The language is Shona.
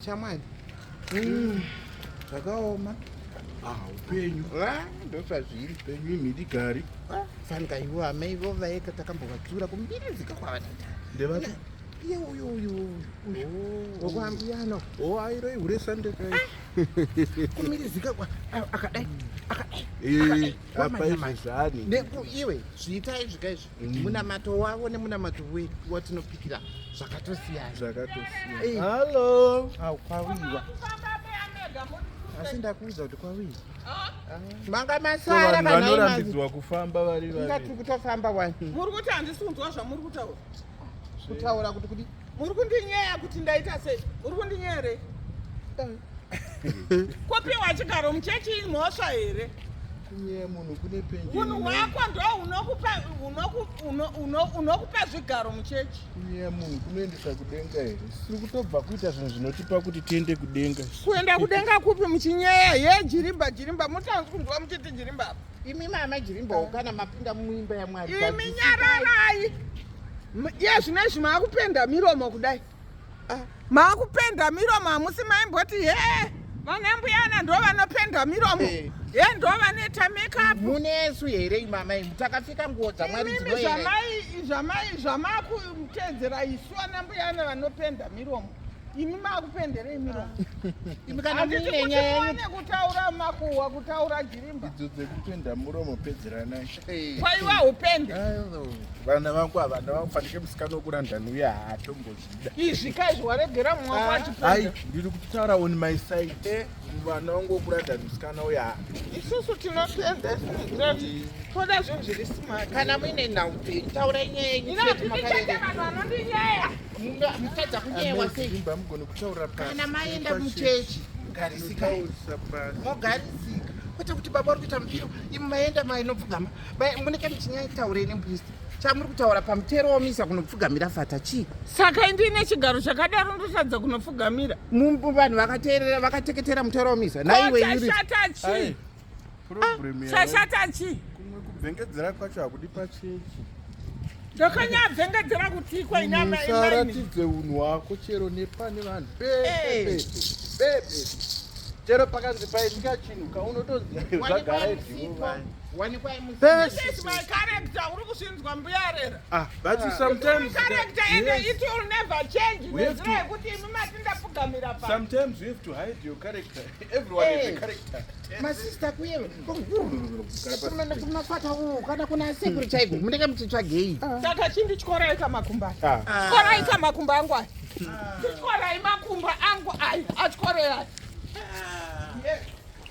Shamwari. Mm. Zvakaoma. Ah, upenyu. Ah, ndosazviri. Upenyu imhidi gari. Ah, fanika ivo amai vo vaeka takambovatura kumbirizika kwavatata. Ndevati. Iye uyo uyo uyo. Oh. Wokwambiyano. Oh, airo ihure sande kai. Ah. Kumbirizika kwa akadai. Akadai. Eh, apa izvi zvani. Neku iwe zviita izvi kai izvi. munamato wavo nemunamato wedu watinopikira zvakatosiyana zvakatosiyana hallo au kwawiwa asi ndakuudza kuti kwawiwa manga masara vanorambidzwa kufamba vari vari ingatiri kutofamba wani muri kuti handisi kunzwa zvamuri kutaura kutaura kuti kudi Muri kundinyeya kuti ndaita sei? Muri kundinyeya here? Kopiwa chigaro muchechi imhosva here? Kunyeya munhu kune penjeni. Munhu wako ndo unokupa unokupa unokupa zvigaro muchechi. Kunyeya munhu kunoendesa kudenga here? Siri kutobva kuita zvinhu zvinotipa kuti tiende kudenga. Kuenda kudenga kupi muchinyeya? Ye jirimba jirimba mutanzi kunzwa muchiti jirimba apa. Imi mama jirimba kana mapinda muimba yaMwari. Imi nyararai. Iye zvino izvi maakupenda miromo kudai ah. maakupenda miromo hamusi maimboti he vana mbuyana ndo vanopenda miromo eh. he ndo vanoita makeup munesu here imama imu takapfeka nguo dzamwari dzinoerai zvamai zvamakuteedzera isu ana mbuyana vanopenda miromo imi makupenderei miromo anditiuone kutaura makuhwa kutaura jirimba idzo dzekupenda muromo pedzeranai kwaiwa upende vana vangu ava ndavakufanike musikana wokurandani uye haatombozvida izvi kai zviwaregera mwakwachipendai ah, ndiri kutaura on my side eh, vana vangu wokurandani musikana uye haa isusu tinopenda toda zvinhu zviri smart kana muine nhau taurai nyaya yenyu vanhu vanondinyeya mutadza kunyewa sei kana maenda muchechi garisikai mogarisika kwete kuti baba uri kuita mupiro imi maenda mainopfugama muneke muchinyaitaurei nembuisti chamuri kutaura pamutero womisa kunopfugamira fata chii saka indiine chigaro chakadaro ndotadza kunopfugamira vanhu vakateerera vakateketera mutero womisa naiwe chashata chii kumwe kubvengedzera kwacho hakudi pachechi ndakanyabvengedzera kutiiko inamasaratidze unhu wako chero nepane vanhu bebe chero pakanzi paitika chinhu kaunotoziva zvagara izviwo sometimes you have to hide your character masista kuyero kunafata uku kana kuna asekuru chaiko munenge muchitsvagei saka chindityora ika makumba tyora ika makumba angu aya tyora imakumba angu aya atyora aya